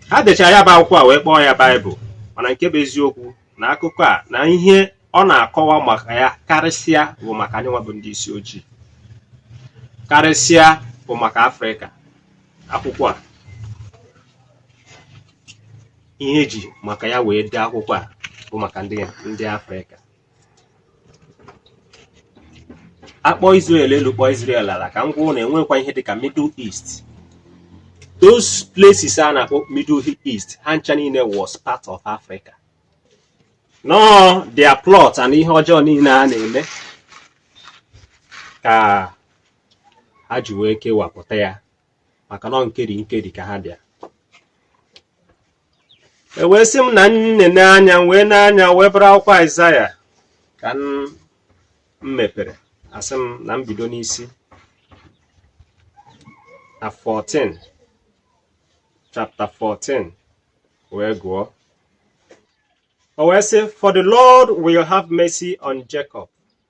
ha dechara ya bụ akwụkwọ a wee kpọọ ya baịbụl mana nke bụ eziokwu na akụkọ a na ihe ọ na-akọwa maka ya karịsịa bụ maka anyị nwa bụ ndị isi ojii karịsịa bụ maka afrịka akwụkwọ a ihe e ji maka ya wee dee akwụkwọ a bụ maka ndị afrịka a kpọọ Israel elu kpọọ Israel ala ka m gwa unu na e nwekwa ihe dịka Middle East those places a na-akpọ Middle East ha ncha niile was part of Africa na ọ their plot and ihe ọjọọ niile a na-eme ka ha ji wee kewapụta ya maka na ọ nkeri nkeri ka ha bịa e wee sị m na m nenee anya m wee nee anya wee bụrụ akwụkwọ aịzaya ka m mepere a sị m na m bido n'isi na 14 chapter 14 wee gụọ o wee sị for the lord will have mercy on jacob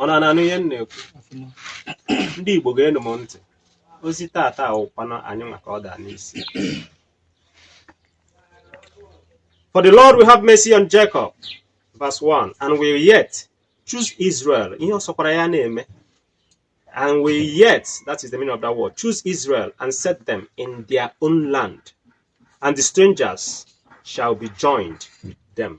unu na-anụ ihe m na-ekwu ndị Igbo geenụ m ntị ozi tata awụkwana anyị maka ọ daa n'isi For the Lord will have mercy on Jacob, verse 1, and will yet choose Israel. Ihe ọ sọkwara ya na-eme. And will yet, that is the meaning of that word, choose Israel and set them in their own land, and the strangers shall be joined with them.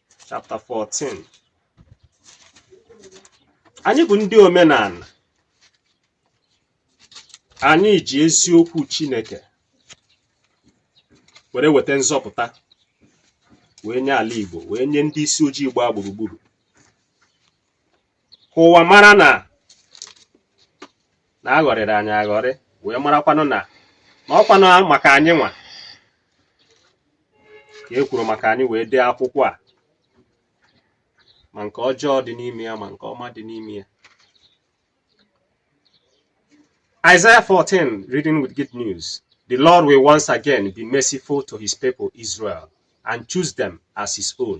chapter 14 anyị bụ ndị omenala anyị ji eziokwu Chineke were weta nzọpụta wee nye ala Igbo wee nye ndị isi ojii gbaa gburugburu ka ụwa mara na na a ghọrịrị anyị aghọrị wee marakwanụ na na ọ kwanụ maka anyị nwa ka e kwuru maka anyị wee dee akwụkwọ a ma nke ọjọọ dị n'ime ya ma nke ọma dị n'ime ya Isaiah 14 reading with good news the Lord will once again be merciful to his people Israel and choose them as his own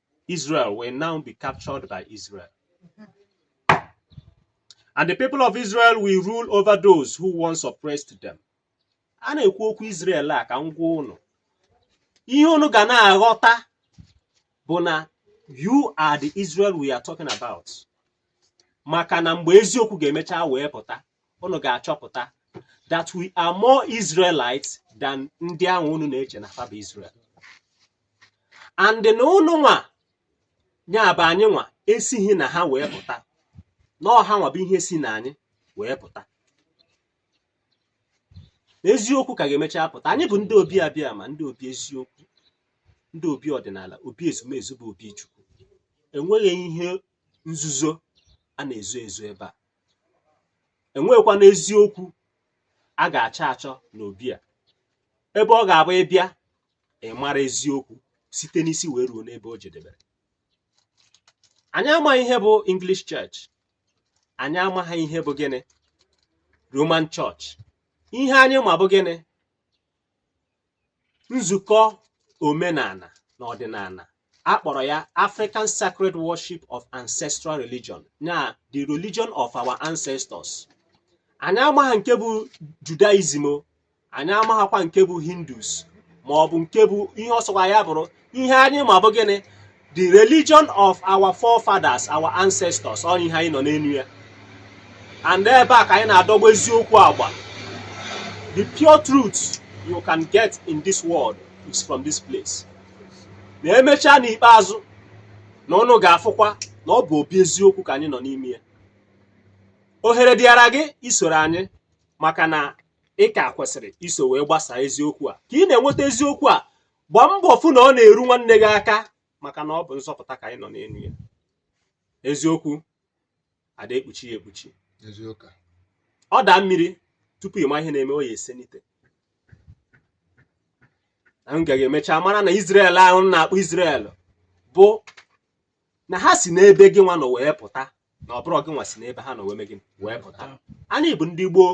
Israel will now be captured by Israel. And the people of Israel will rule over those who once oppressed them. A na-ekwu okwu Israel a ka m gwa unu. Ihe unu ga na-aghọta bụ na you are the Israel we are talking about. Maka na mgbe eziokwu ga-emecha wee pụta, unu ga-achọpụta that we are more Israelites than ndị ahụ unu na-eche na fa bụ Israel and na unu nwa nya bụ anyị nwa esighị na ha wee pụta na ọ ha nwa bụ ihe si na anyị wee pụta eziokwu ka ga-emecha apụta anyị bụ ndị obi abịama ndị obi eziokwu ndị obi ọdịnala obi ezumezu bụ obi chukwu enweghị ihe nzuzo a na-ezo ezo ebe a enweghịkwanụ eziokwu a ga-achọ achọ n'obi a ebe ọ ga-abụ ị bịa ị mara eziokwu site n'isi wee ruo n'ebe o jedebere anyị amaghị ihe bụ English Church anyị amaghị ihe bụ gịnị Roman Church ihe anyị ma bụ gịnị nzukọ omenala na ọdịnala a kpọrọ ya African Sacred Worship of Ancestral Religion na the religion of our ancestors anyị amaghị nke bụ Judaism o anyị amaghịkwa nke bụ Hindus ma ọ bụ nke bụ ihe ọ sọkwa ya bụrụ ihe anyị ma bụ gịnị the religion of our forefathers our ancestors ọ ihe anyị nọ n'elu ya and ebe a ka anyị na-adọgba eziokwu agba the pure truth you can get in this world is from this place na emechaa n'ikpeazụ na unu ga-afụkwa na ọ bụ obi eziokwu ka anyị nọ n'ime ya ohere dịara gị isoro anyị maka na ị ka kwesịrị iso wee gbasaa eziokwu a ka ị na-enweta eziokwu a gbaa mbọ fụ na ọ na-eru nwanne gị aka maka na ọ bụ nzọpụta ka anyị nọ n'elu ya eziokwu ada ekpuchi ya ekpuchi ọ daa mmiri tupu ị ma ihe na-eme ọ ya esenite anyị ga-emecha mara na Izrel ahụ a na-akpọ Izrel bụ na ha si n'ebe gị nwa nọ wee pụta na ọ bụrọ gị nwa si n'ebe ha nọ wee mee gịnị wee pụta anyị bụ ndị gboo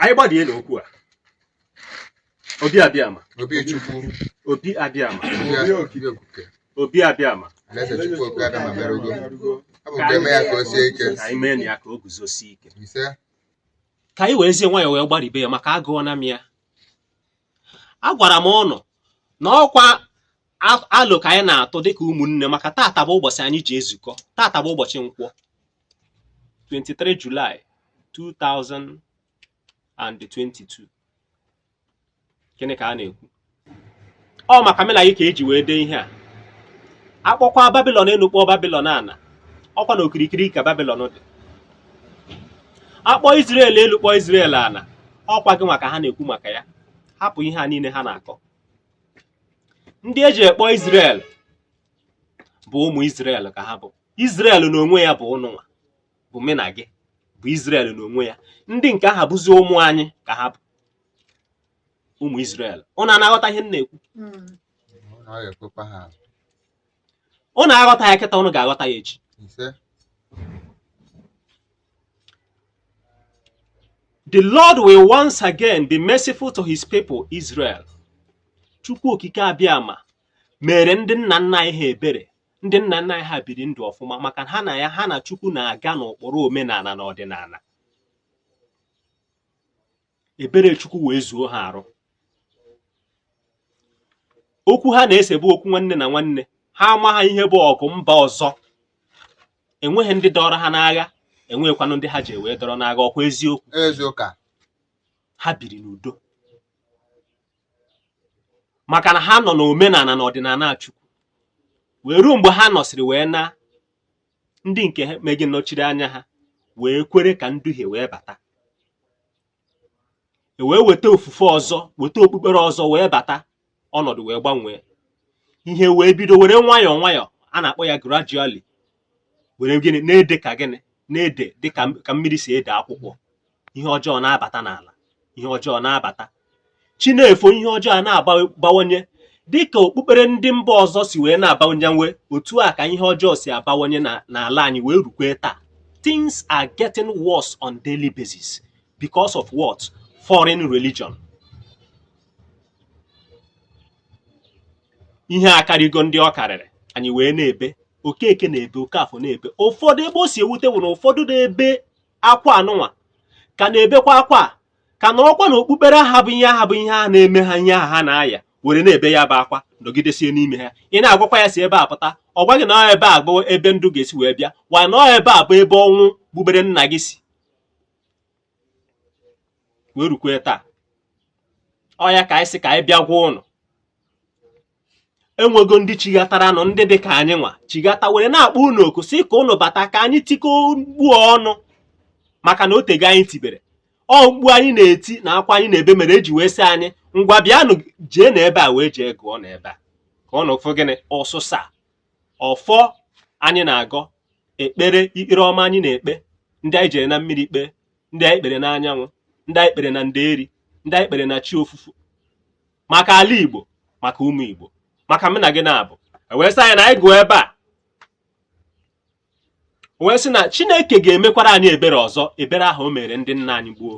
anyị gbadie n'okwu a obi abịama obi chukwu obi abịama obi okike obi abịama alaeze chukwu oke abịama erugo ọ bụ nke eme ya ka o sie ike ka anyị mee na ya ka o guzosie ike isee ka anyị werezie nwayọọ wee gbaribe ya maka agụọna m ya agwara m unu na ọkwa alo ka anyị na-atụ dịka ụmụnne maka tata bụ ụbọchị anyị ji ezukọ tata bụ ụbọchị nkwọ 23 July 2022 gịnị ka a na-ekwu ọ maka mụ na gị ka eji wee dee ihe a akpọkwa Babilọn enu kpọọ Babilọn ana ọkwa na okirikiri ka Babilọn dị akpọ Izrel elu kpọọ Izrel ana ọkwa gị nwa ka ha na-ekwu maka ya hapụ ihe a niile ha na-akọ ndị eji akpọ Izrel bụ ụmụ Izrel ka ha bụ Izrel na onwe ya bụ ụnụnwa bụ mụ na gị bụ Izrel na onwe ya ndị nke aha bụzi ụmụ anyị ka ha bụ ụmụ Izrel ụnụ ana-aghọta ihe m na-ekwu ụnụ aghọta ya kịta ụnụ ga-aghọta ya echi The Lord will once again be merciful to his people Israel. Chukwu okike Abịama mere ndị nna nna anyị ha ebere ndị nna nna anyị ha biri ndụ ọfụma maka ha na ya ha na Chukwu na-aga n'ụkpụrụ omenala na ọdịnala ebere Chukwu wee zuo ha arụ okwu ha na-ese bụ okwu nwanne na nwanne ha amaha ihe bụ ọgụ mba ọzọ enweghị ndị dọrọ ha n'agha enweghịkwanụ ndị ha ji wee dọrọ n'agha ọkwa eziokwu eziokwu ha biri n'udo maka na ha nọ n'omenala na ọdịnala Chukwu wee ruo mgbe ha nọsịrị wee na ndị nke ha megị nọchiri anya ha wee kwere ka nduhie wee bata e wee weta ofufe ọzọ weta okpukpere ọzọ wee bata ọnọdụ wee gbanwee ihe wee bido were nwayọọ nwayọọ a na-akpọ ya gradually were gịnị na-ede ka gịnị na-ede dị ka mmiri si ede akwụkwọ ihe ọjọọ na-abata n'ala ihe ọjọọ na-abata chi na-efo ihe ọjọọ a na-abawanye dị ka okpukpere ndị mba ọzọ si wee na-abawanye otu a ka ihe ọjọọ si abawanye n'ala anyị wee rukwe taa things are getting worse on daily basis because of what foreign religion ihe akarịgo ndị ọ karịrị anyị wee na-ebe Okeke na-ebe Okafọ na-ebe ụfọdụ ebe o si ewute bụ na ụfọdụ na-ebe akwa anụnwa ka na-ebekwa akwa a ka nọrọkwa na okpukpere aha bụ ihe aha bụ ihe a na-eme ha ihe aha ha na-aya were na-ebe ya bụ akwa nọgidesie n'ime ha ị na-agwakwa ya si ebe a pụta ọ gwa gị na ebe a bụ ebe ndụ ga-esi wee bịa mana ebe a bụ ebe ọnwụ gbubere nna gị si wee rukwe taa ọ ya ka anyị sị ka anyị bịa gwa ụnụ enwego ndị chighataranụ ndị dị ka anyị nwa chighata were na-akpọ unu oku sị ka unu bata ka anyị tikọ mkpu ọnụ maka na otego anyị tibere ọ mkpu anyị na-eti na akwa anyị na-ebe mere e ji wee sị anyị ngwa bịanụ jee na ebe a wee jee gụọ na ebe a ka ọ na ụfụ gịnị ọsụsa ọfọ anyị na-agọ ekpere iru ọma anyị na-ekpe ndị anyị jere na mmiri kpee ndị anyị kpere na anyanwụ ndị anyị kpere na nderi ndị anyị kpere na chi ofufo maka ala Igbo maka ụmụ Igbo maka mụ na gị naabọ e wee sị anyị na anyị gụọ ebe a wee sị na Chineke ga-emekwara anyị ebere ọzọ ebere ahụ o mere ndị nna anyị gboo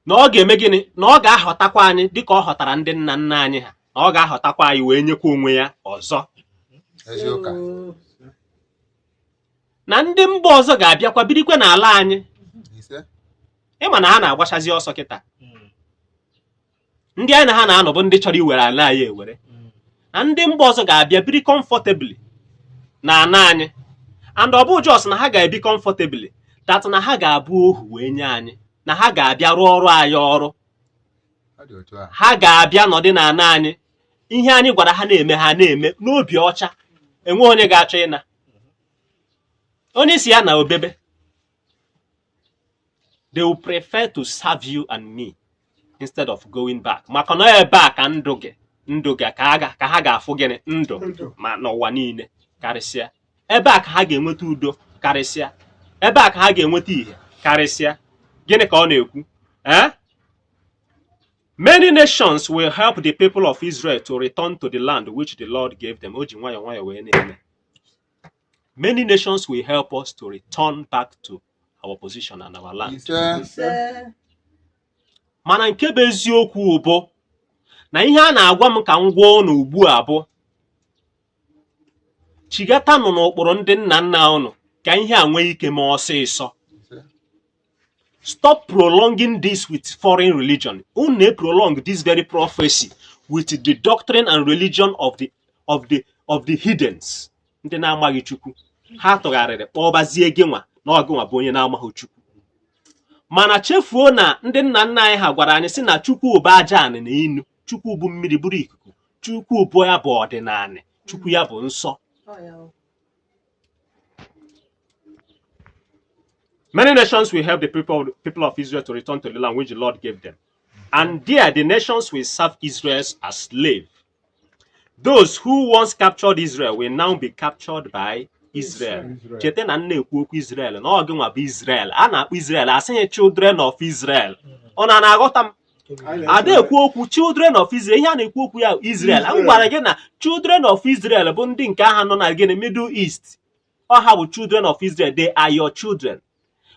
na ọ ga-eme gịnị na ọ ga-ahọtakwa anyị dịka ọ họtara ndị nna nna anyị ha na ọ ga-ahọtakwa anyị wee nyekwa onwe ya ọzọ na ndị mba ọzọ ga-abịakwa birikwa n'ala anyị ị ma na ha na-agbachazi ọsọ kịta ndị anyị na ha na-anọ bụ ndị chọrọ iwere ala anyị ewere na ndị mba ọzọ ga-abịa biri comfortably na ana anyị and ọ bụ just na ha ga-ebi comfortably that na ha ga-abụ ohu wee nye anyị na ha ga-abịa rụọrọ anyị ọrụ ha ga-abịa nọdị na ana anyị ihe anyị gwara ha na-eme ha na-eme n'obi ọcha enweghị onye ga-achọ ịna onye ị sị ya naa o bebe they will prefer to serve you and me instead of going back maka na ebe a ka ndụ gị ka ha ga-afụ gịnị ndụ ma n'ụwa niile karịsịa ebe a ka ha ga-enweta udo karịsịa ebe a ka ha ga-enweta ihe karịsịa gịnị ka ọ na-ekwu ee eh? Many nations will help the people of Israel to return to the land which the Lord gave them. O ji nwayọọ nwayọọ wee na-eme. Many nations will help us to return back to our position and our land. Mana nke bụ eziokwu bụ na ihe a na-agwa m ka m gwa ụnụ ugbu a bụ chighatanụ n'ụkpụrụ ndị nna nna ụnụ ka ihe a nwee ike mee ọsịsọ. stop prolonging this with foreign religion unu na-prolong this very prophecy with the doctrine and religion of the heathens ndị na-amaghị chukwu ha tụgharịrị kpọbazie gị nwa na ọ gịnwa bụ onye na-amaghị chukwu mana chefuo na ndị nna nna anyị ha gwara anyị sị na chukwu bụ aja anị na enu chukwu bụ mmiri bụrụ ikuku chukwu bụ ya bụ ọdịnanị chukwu ya bụ nsọ Many nations will help the people of Israel to return to the land which the Lord gave them. And there the nations will serve Israel as slaves. Those who once captured Israel will now be captured by Israel. Cheta na m na-ekwu okwu Israel na ọ gịnwa bụ Israel. A na-akpọ Israel a sịghị children of Israel. Unu na-aghọta m. A da ekwu okwu children of Israel ihe a na-ekwu okwu ya Israel. M gwara gị na children of Israel bụ ndị nke aha nọ na gịnị Middle East. ọ ha bụ children of Israel they are your children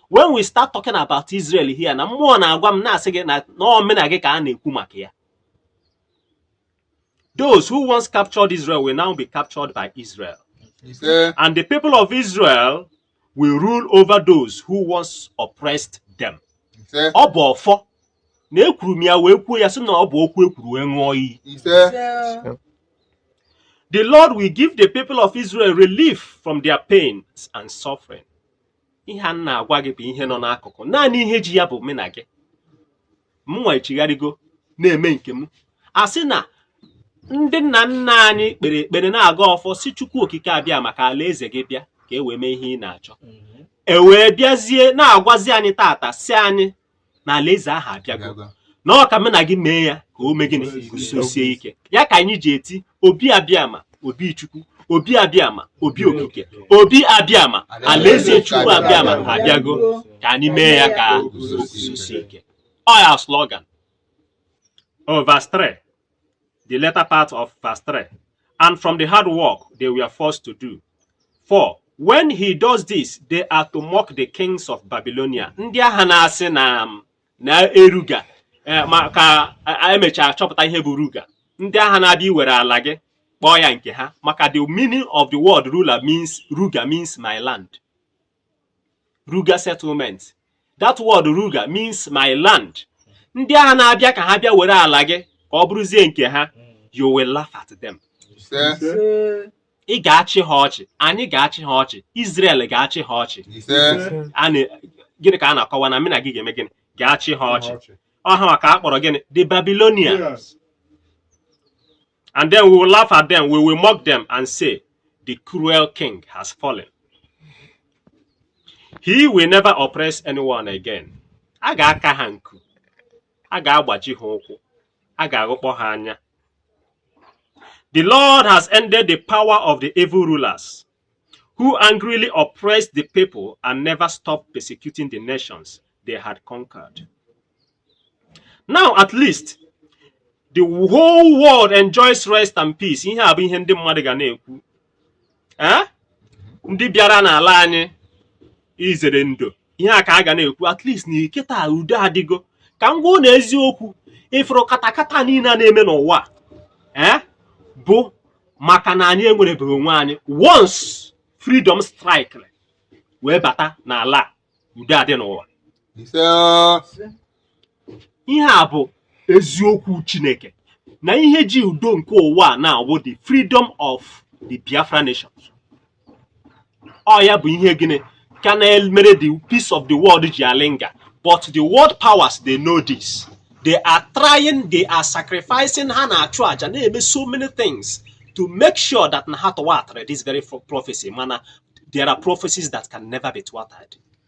when we start talking about Israel here na mmụọ na-agwa m na-asị gị na ọ mụ na gị ka a na-ekwu maka ya those who once captured Israel will now be captured by Israel and the people of Israel will rule over those who once oppressed them ọ bụ ọfọ na ekwuru m ya wee kwuo ya sị na ọ bụ okwu e kwuru wee ṅụọ iyi the lord will give the people of israel relief from their pains and suffering ihe a na-agwa gị bụ ihe nọ n'akụkụ naanị ihe ji ya bụ mụ na gị mụnwa echigharịgo na-eme nke m a sị na ndị nna nna anyị kpere ekpere na-agọ ọfọ sị chukwu okike abịama ka alaeze gị bịa ka e wee mee ihe ị na-achọ mhm. e wee bịazie na-agwazi anyị taata sị anyị na alaeze ahụ abịago na ọ ka mụ na gị mee ya ka o mee gịnị guzosie ike ya ka anyị ji eti obi abịama obi chukwu obi abịama obi okike obi abịama alaeze chukwu abịama abịago ka anyị mee ya ka o guzosie ike ọ ya slogan o verse 3 the latter part of verse 3, and from the hard work they were forced to do. 4. When he does this, they are to mock the kings of Babylonia. Ndị ahụ na-asị na um, na ruga eh, ma ka a- emechaa chọpụta ihe bụ ruga. Ndị ahụ na-abịa iwere ala gị kpọọ ya nke ha maka the meaning of the word ruler means ruga means my land. ruga settlement that word ruga means my land ndị ahụ na-abịa ka ha bịa were ala gị ka ọ bụrụzie nke ha you will laugh at them ise ị ga-achị ha ọchị anyị ga-achị ha ọchị Israel ga-achị ha ọchị ise a na- gịnị ka a na-akọwa na mụ na gị ga-eme gịnị ga-achị ha ọchị ọ ha ka a kpọrọ gịnị the Babylonians And then we will laugh at them, we will mock them and say, The cruel king has fallen. He will never oppress anyone again. A ga-aka ha nku, a ga-agbaji ha ụkwụ, a ga-aghụkpọ ha anya. The Lord has ended the power of the evil rulers. who angrily oppressed the people and never stopped persecuting the nations they had conquered. Now, at least, the whole world enjoys rest and peace. Ihe a bụ ihe ndị mmadụ ga na-ekwu. Eh? Ndị bịara n'ala anyị izere ndo ihe a ka a ga na-ekwu at least na kịta udo adịgo ka m gwa na eziokwu ị fụrụ katakata niile a na-eme n'ụwa ee eh, bụ maka na anyị enwerebeghị onwe anyị once freedom strike wee bata n'ala udo adị n'ụwa ihe a bụ eziokwu chineke na ihe ji udo nke ụwa a na-awụ the freedom of the biafra nations ọ ya bụ ihe gịnị ka na-emere the peace of the world ji a-linger but the world powers they know this they are trying they are sacrificing ha na-achụ aja na-eme so many things to make sure that na ha thwartara this very prophecy mana there are prophecies that can never be thwarted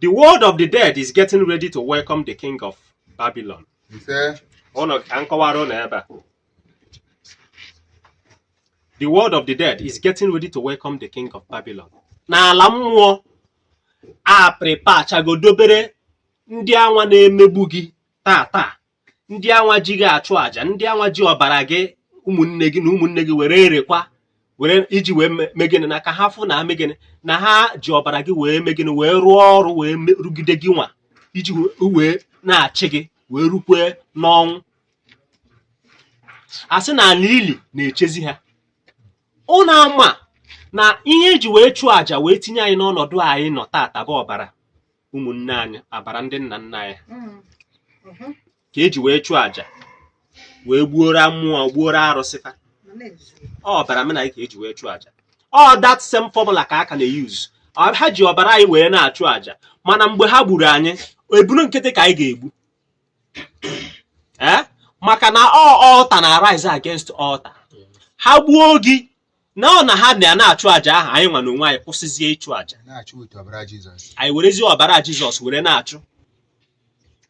The world of the dead is getting ready to welcome the king of Babylon. ise Ụnụ ka m kọwara ụnụ ebe a. The world of the dead is getting ready to welcome the king of Babylon. N'ala mmụọ a preparechago dobere ndị anwa na-emegbu gị taa taa ndị anwa ji gị achụ àjà ndị anwa ji ọbara gị ụmụnne gị na ụmụnne gị were erekwa were iji wee mee gịnị na ka ha fụ na mee gịnị na ha ji ọbara gị wee mee gịnị wee rụọ ọrụ wee rụgide gị nwa iji wee na-achị gị wee rukwe n'ọnwụ a sị na ala ili na-echezi ha ụnụ ama na ihe e ji wee chụọ àjà wee tinye anyị n'ọnọdụ anyị nọ tata bụ ọbara ụmụnne anyị ọbara ndị nna nna anyị mm, mhm. ka eji wee chụọ àjà wee gbuoro mmụọ gbuoro arụsị fa ọ ọbara ụmụnna anyị ka eji wee chụọ àjà ọ that same formula ka a ka na-use Ọ- ha ji ọbara anyị wee na-achụ àjà mana mgbe ha gburu anyị ebunu nkịtị ka anyị ga-egbu ee maka na ọ altar na-arise against altar ha gbuo gị na ọ na ha na na-achụ àjà ahụ anyị nwa n'onwe anyị kwụsịzie ịchụ àjà anyị werezie ọbara Jizọs were na-achụ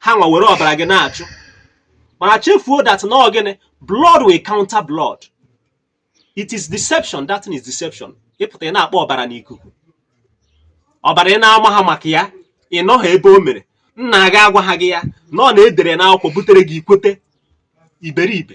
ha nwa were ọbara gị na-achụ mana chefuo that na gịnị blood will counter blood it is deception that is deception ị pụta ị na-akpọ ọbara n'ikuku ọbara ị na-amaha maka ya ị nọha ebe o mere nna gị agwaha gị ya na ọ na e dere n'akwụkwọ butere gị i kwete iberibe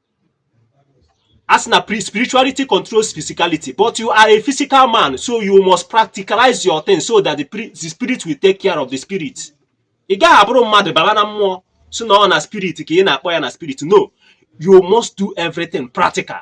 a sị na spirituality controls physicality but you are a physical man so you must practicalize your thing so that the, the spirit will take care of the spirit ị gaghị abụrụ mmadụ baba na mmụọ sị na ọ na spirit ka ị na-akpọ ya na spirit no you must do everything practical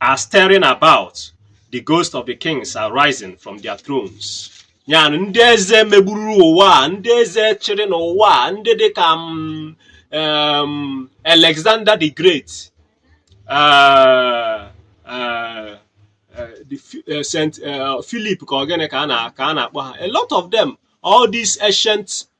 are stirring about the ghost of the kings are rising from their thrones ya ndị eze megburu ụwa a ndị eze chịrị n'ụwa a ndị dị ka mm, um, Alexander the Great uh, uh, uh, Saint Philip ka ọ gịnị ka a na-akpọ ha a lot of them all these ancient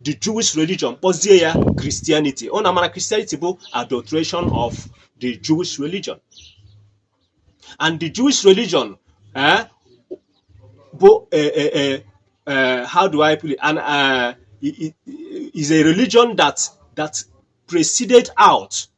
the Jewish religion kpọzie ya Christianity ọ na-amara Christianity bụ adulteration of the Jewish religion and the Jewish religion eh, bụ eh, eh, eh, eh, how do I put it and uh, is a religion that that preceded out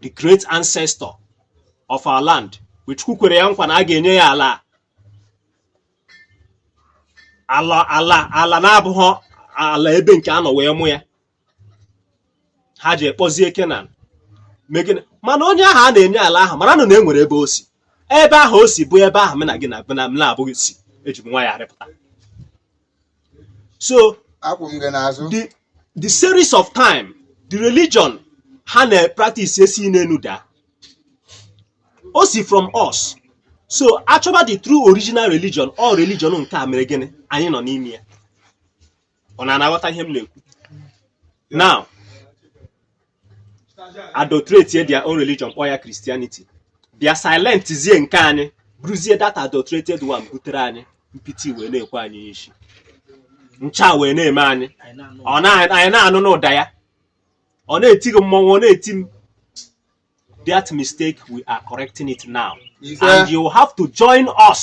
the great ancestor of our land which Chukwu kwere ya nkwa na a ga-enye ya ala ala ala ala na-abụghị ala ebe nke a nọ wee mụọ ya ha jee kpọzie Kenan mee gịnị mana onye ahụ a na-enye ala ahụ mara na na e nwere ebe o si ebe ahụ o si bụ ebe ahụ mụ na gị na abụghị si eji m nwa ya arịpụta so akwụ m gị n'azụ the the series of time the religion ha na-practice esi n'enu daa o si from us so achọba the true original religion all religion nke a mere gịnị anyị nọ n'ime ya ọ na a na-aghọta ihe m na-ekwu now adulterate their own religion kpọọ ya Christianity bịa silent zie nke anyị bụrụzie that adulterated one butere anyị mpịtị wee na-ekwe anyị isi ncha wee na-eme anyị ọ na anyị na-anụ n'ụda ya ọ na-eti gị mmọnwụ ọ na-eti m that mistake we are correcting it now Ise. and you have to join us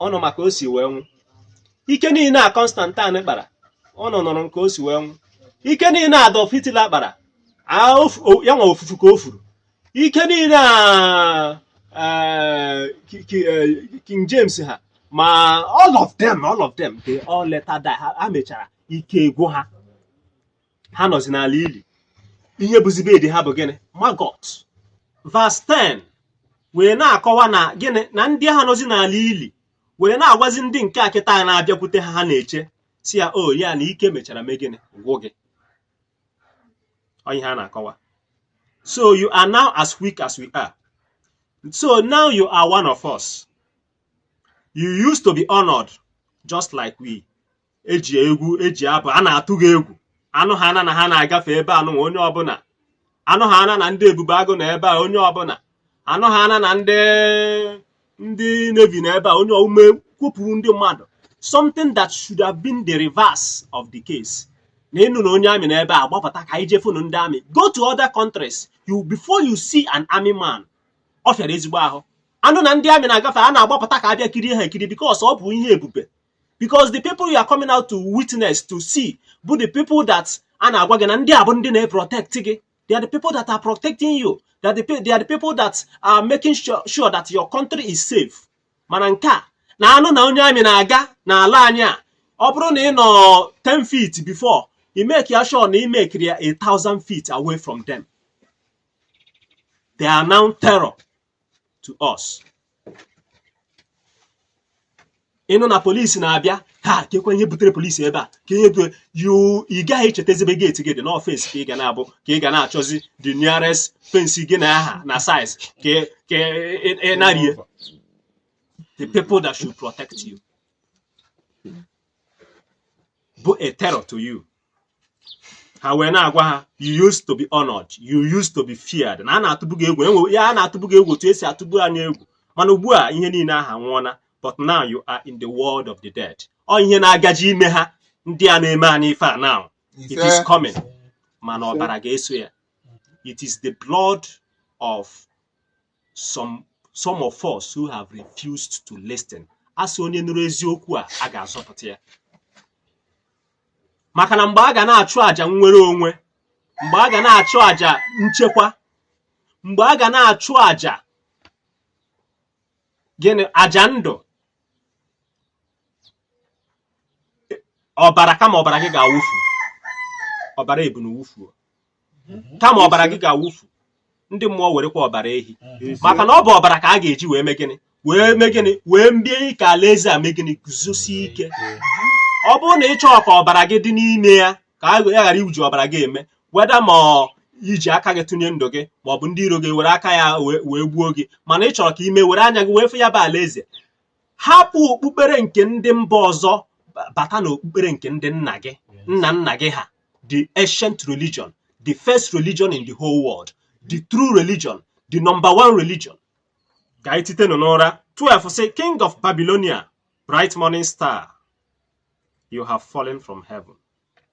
ụnụ ma ka o si wee nwụ ike niile a Constantine kpara ụnụ nụrụ nke o si wee nwụ ike niile a Adolf Hitler kpara a ofu- o- ya nwa ofufu ka o furu ike niile a eh, Ki- Ki- eh, King James ha ma all of them all of them they all later die ha ha mechara ike agwụ ha ha nọzi n'ala ili ihe bụzi bed ha bụ gịnị maggot verse 10 wee na-akọwa na gịnị na ndị ahụ nọzi n'ala ili were na-agwazi ndị nke a kịta na-abịakwute ha ha na-eche sị ya o oh, ya na ike mechara mee gịnị gwụ gị onye ha na-akọwa so you are now as weak as we are so now you are one of us you used to be honored just like we eji egwu eji abụ a na-atụ gị egwu a nụhana na ha na-agafe ebe anụnwa onye ọbụla a nụhana na ndị ebube agụ nọ ebe a onye ọbụla a nụhana na ndị ndị navy nọ ebe a onye ume kwupụrụ ndị mmadụ something that should have been the reverse of the case na ị nụ na onye army nọ ebe a gbapụta ka anyị je fụnụ ndị army go to other countries you before you see an army man ọ fịara ezigbo ahụ a nụ na ndị army na-agafe a na-agbapụta ka a bịa kirie ha ekiri because ọ bụ ihe ebube because the people you are coming out to witness to see bụ the people that a na-agwa gị na ndị a bụ ndị na-protect gị they are the people that are protecting you they are the, pe- they are the people that are making sure, sure that your country is safe mana nke a na a nụ na onye army na-aga n'ala anyị a ọ bụrụ na ị nọ 10 feet before i make ya sure na i mekiri ya a thousand feet away from them they are now terror to us ị nụ na police na-abịa ha kekwa ihe butere police ebe a ka ihe bụ you ị gaghị echetazi ebe gate gị dị na ọ fence ka ị ga na-abụ ka ị ga na-achọzi the nearest fence gị na ya ha na size ka ka ị- ị narie the people that should protect you bụ a terror to you ha wee na-agwa ha you used to be honored you used to be feared na a na-atụbu gị egwu enwe ya a na-atụbu gị egwu otu esi atụbu anyị egwu mana ugbu a ihe niile ahụ anwụọna but now you are in the world of the dead ọ ihe na-agaji ime ha ndị a na-eme anyị ife a now it is coming mana ọbara ga-eso ya it is the blood of some some of us who have refused to listen a sị onye nụrụ eziokwu a a ga-azọpụta ya maka na mgbe a ga na-achụ àjà nnwere onwe mgbe a ga na-achụ àjà nchekwa mgbe a ga na-achụ àjà gịnị àjà ndụ ọbara kama ọbara gị ga-awụfu ọbara ebunu wufuo mhm. kama ọbara gị ga-awụfu ndị mmụọ werekwa ọbara ehi mhm. maka na ọ bụ ọbara ka a ga-eji wee mee gịnị wee mee gịnị wee mee ka alaeze a mee gịnị guzosie ike ọ bụrụ na ị chọọ ka ọbara gị dị n'ime ya ka a ghara iwuji ọbara gị eme whether ma i ji aka gị tụnye ndụ gị ma ọ bụ ndị iro gị were aka ya wee gbuo gị mana ị chọrọ ka ime were anya gị wee fụ ya bụ alaeze hapụ okpukpere nke ndị mba ọzọ bata na okpukpere nke ndị nna gị nna nna gị ha the ancient religion the first religion in the whole world the true religion the number one religion ka anyị tetenụ n'ụra 12 sị king of babylonia bright morning star you have fallen from heaven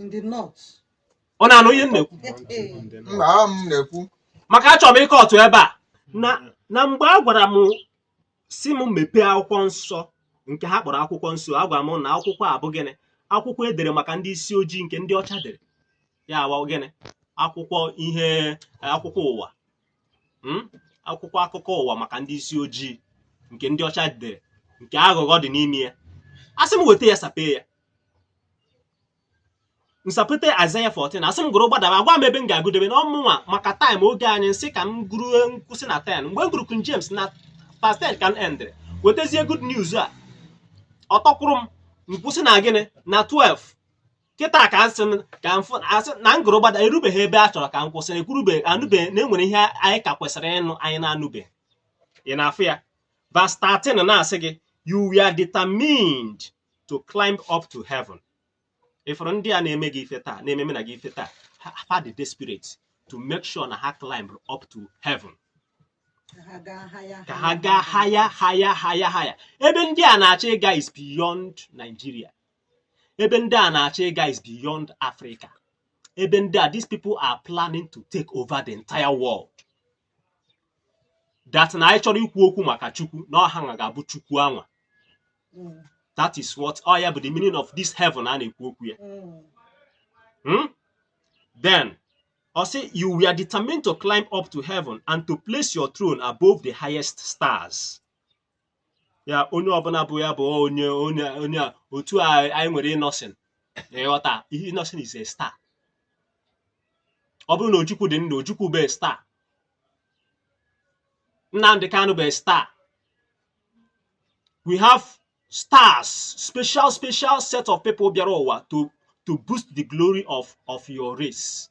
in the north. ị na-anụ ihe m na-ekwu maka achọrọ m ịkọtụ ebe a na na mgbe a gwara m sị m mepee akwụkwọ nsọ nke ha kpọrọ akwụkwọ nsọ a gwara m na akwụkwọ a bụ gịnị akwụkwọ e dere maka ndị isi ojii nke ndị ọcha dere ya wụ gịnị akwụkwọ ihe akwụkwọ ụwa mm? akwụkwọ akụkọ ụwa maka ndị isi ojii nke ndị ọcha dere nke aghụghọ dị n'ime ya a sị m weta ya sapee ya m sapete Isaiah 14 a sị m gụrụ gbadaba a gwa m ebe m ga-agụdebe na ọ mụnwa maka time oge anyị m sị ka m gụrụ m kwụsị na 10 mgbe m gụrụ King James na verse 10 ka m endịrị wetazie good news a ọ tọkwuru m m kwụsị na gịnị na 12 kịta ka a sị m ka m fụ a sị na m gụrụ gbada erubeghị ebe a chọrọ ka m kwụsị na ekwurube anụbe na e nwere ihe anyị ka kwesịrị ịnụ anyị na-anụbe ị na-afụ ya verse 13 na-asị gị you were determined to climb up to heaven ị fụrụ ndị a na-eme gị ife taa na-ememe na gị ife taa ha dị desperate to make sure na ha climb up to heaven ka ha gaa higher higher higher higher ebe ndị a na-achọ ịga is beyond Nigeria ebe ndị a na-achọ ịga is beyond Africa ebe ndị a these people are planning to take over the entire world that na anyị chọrọ ikwu okwu maka chukwu na ọ ha nwa ga-abụ chukwu anwa Mm, that is what ọ ya bụ the meaning of this heaven a na-ekwu okwu ya mm, Hmm? Then, ọ sị, you were determined to climb up to heaven and to place your throne above the highest stars. ya onye ọbụla bụ ya bụ onye onye onye a otu a anyị nwere innoson ị ghọta ihe innoson is a star ọ bụrụ na ojukwu dị ndụ ojukwu bụ a star nnamdi kanu bụ a star we have stars special special set of people bịara ụwa to to boost the glory of of your race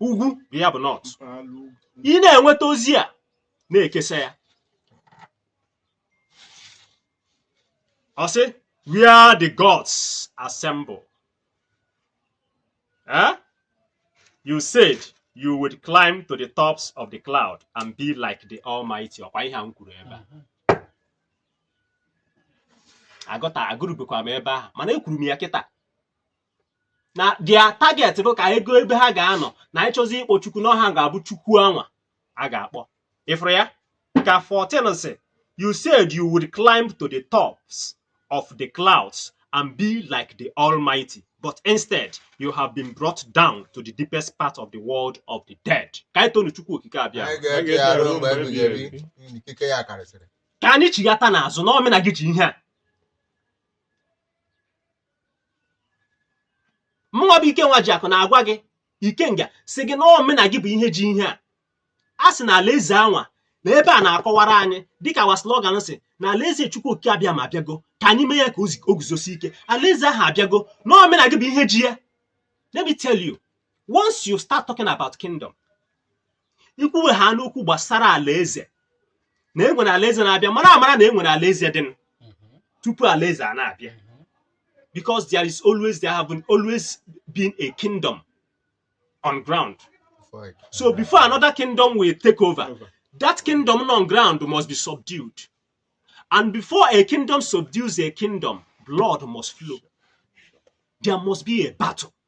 ugwu bụ ya bụ north ị na-enweta ozi a na-ekesa ya ọ sị where the gods assemble eh? you said you would climb to the tops of the cloud and be like the almighty ọkwa ihe a m kwuru ebe a agụta agụrubekwa m ebe ahụ mana ekwuru m ya kịta na their target bụ ka ego ebe ha ga-anọ na ị chọzi ịkpọ chukwu na ọ ha ga-abụ chukwu anwa a ga-akpọ ị fụrụ ya ka 14 sị you said you would climb to the tops of the clouds and be like the almighty but instead you have been brought down to the deepest part of the world of the dead ka anyị tonu chukwu okike abịa ka anyị chighata n'azụ na ọ mụ na gị ji ihe a mụnwa bụ ike nwajiakụ na-agwa gị ikenga sị gị na ọ mụ na gị bụ ihe ji ihe a a sị na alaeze anwa na ebe a na-akọwara anyị dịka wa slogan sị na alaeze chukwu okike abịama abịago ka anyị mee ya ka o guzosi ike alaeze ahụ abịago na ọ mụ na gị bụ ihe ji ya let me tell you once you start talking about kingdom i kwuwe ha n'okwu gbasara alaeze na enwere alaeze na-abịa mara amara na enwere alaeze dị nụ Mhm. tupu alaeze a na-abịa Mhm. because there is always there have been always been a kingdom on ground Before it- so before another kingdom will take over Over. that kingdom on ground must be subdued and before a kingdom subdues a kingdom blood must flow there must be a battle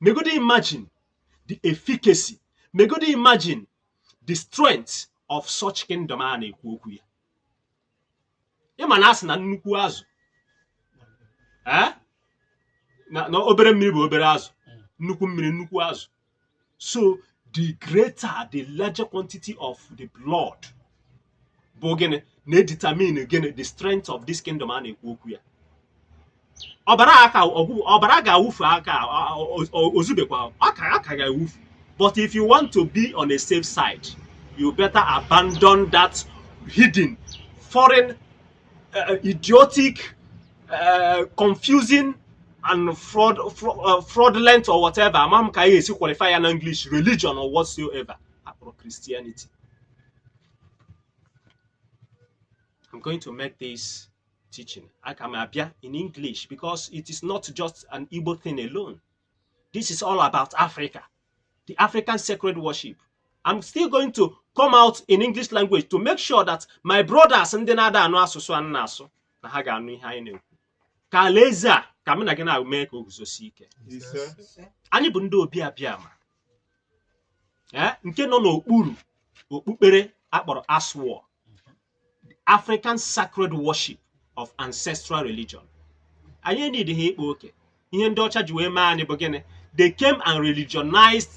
megodi imagine the efficacy megodi imagine the strength of such kingdom a na-ekwu okwu ya ị ma na a sị na nnukwu azụ eh? na obere mmiri bụ obere azụ nnukwu mmiri nnukwu azụ so the greater the larger quantity of the blood bụ gịnị na-edetermine gịnị the strength of this kingdom a na-ekwu okwu ya ọbara aka ọbara ga-awụfu aka ozubekwa aka aka ga-awụfu but if you want to be on a safe side you better abandon that hidden foreign uh, idiotic uh, confusing and fraud, fraud uh, fraudulent or whatever amam ka ya esi qualify ya na English religion or whatsoever akpọrọ Christianity I'm going to make this teaching aka m abịa in English because it is not just an Igbo thing alone. This is all about Africa, the African sacred worship. I'm still going to come out in English language to make sure that my brothers ndị na-ada anụ asụsụ anyị na-asụ na ha ga-anụ ihe anyị na-ekwu ka alaeze a ka mụ na gị na-eme ka o guzosi ike anyị bụ ndị Obi Abịama eh, nke nọ n'okpuru okpukpere akpọrọ ASWAR African sacred worship of ancestral religion anyị enidi ha ịkpa oke ihe ndị ọcha ji wee mee anyị bụ gịnị they came and religionized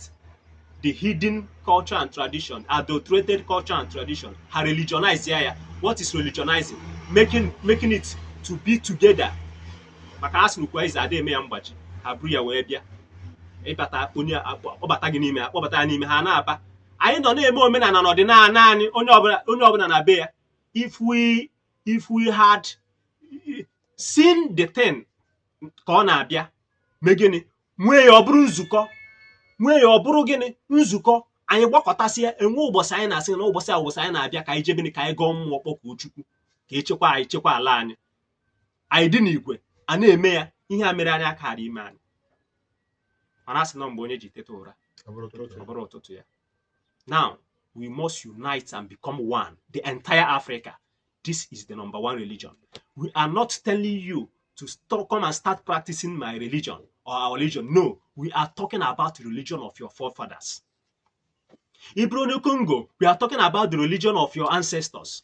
the hidden culture and tradition adulterated culture and tradition ha religionize ya ya what is religionizing making making it to be together maka a sị n'ukwu azịza ada eme ya mgbaji ha buru ya wee bịa ịbata onye akpọbata gị n'ime akpọbata ya n'ime ha na-aba anyị nọ na-eme omenala na ọdịnala anyị onye ọbụla onye ọbụla na be ya if we if we had seen the thing ka ọ na-abịa mee gịnị nwee ya ọ bụrụ nzukọ nwee ya ọ bụrụ gịnị nzukọ anyị gbakọtasịa enwe ụbọchị anyị na-asị na ụbọchị a ụbọchị anyị na-abịa ka anyị jebe ka anyị gọọ mmụọ kpọkuo Chukwu ka echekwa anyị chekwa ala anyị anyị dị n'igwe a na-eme ya ihe a mere anyị akara ime anyị mana asị na mgbe onye ji teta ụra ọ bụrụ ụtụtụ ya now we must unite and become one the entire Africa this is the number one religion we are not telling you to stop, come and start practicing my religion or our religion no we are talking about the religion of your forefathers ị bụrụ onye Congo we are talking about the religion of your ancestors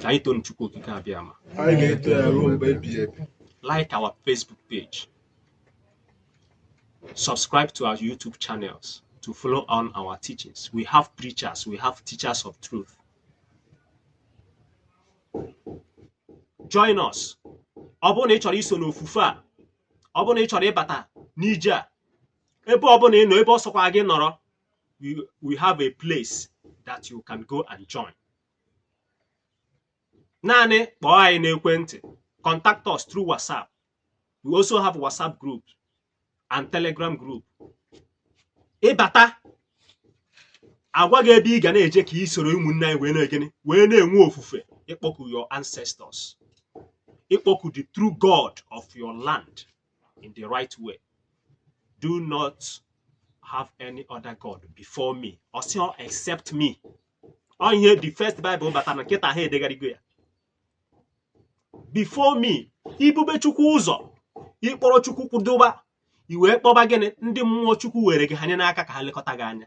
ka anyị toonu Chukwu Okike Abịama anyị ga-eto ya ruo mgbe ebighị ebi like our Facebook page subscribe to our YouTube channels to follow on our teachings we have preachers we have teachers of truth join us ọ bụrụ na ị chọrọ iso n'ofufe a ọ bụrụ na ị chọrọ ịbata n'ije a ebe ọ bụla ị nọ ebe ọ sọkwa gị nọrọ we, we have a place that you can go and join. Naanị kpọọ anyị n'ekwentị, contact us through WhatsApp. We also have WhatsApp group and Telegram group. Ị bata a gwa gị ebe ị ga na-eje ka ị soro ụmụnne anyị wee na-egene wee na-enwe ofufe ịkpọku your ancestors ịkpọku the true God of your land in the right way do not have any other god before me ọ sị except me ọ ihe the first bible batara na kịta ha edegharịgo ya before me i bube chukwu ụzọ ị kpọrọ chukwu kwụdoba i wee kpọba gịnị ndị mmụọ chukwu were gị hanye n'aka ka ha lekọta gị anya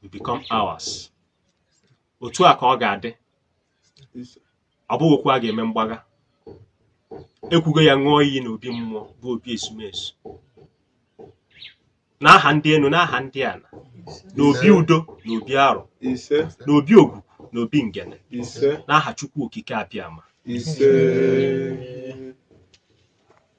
will become ours otu a ka ọ ga-adị ọ bụghị okwu a ga-eme mgbagha e kwugo ya ṅụọ iyi na obi mmụọ bụ obi ezumezu n'aha ndị enu n'aha ndị ana na obi udo na obi arọ ise na obi ogwugwu na obi ngene ise n'aha chukwu okike abịama ise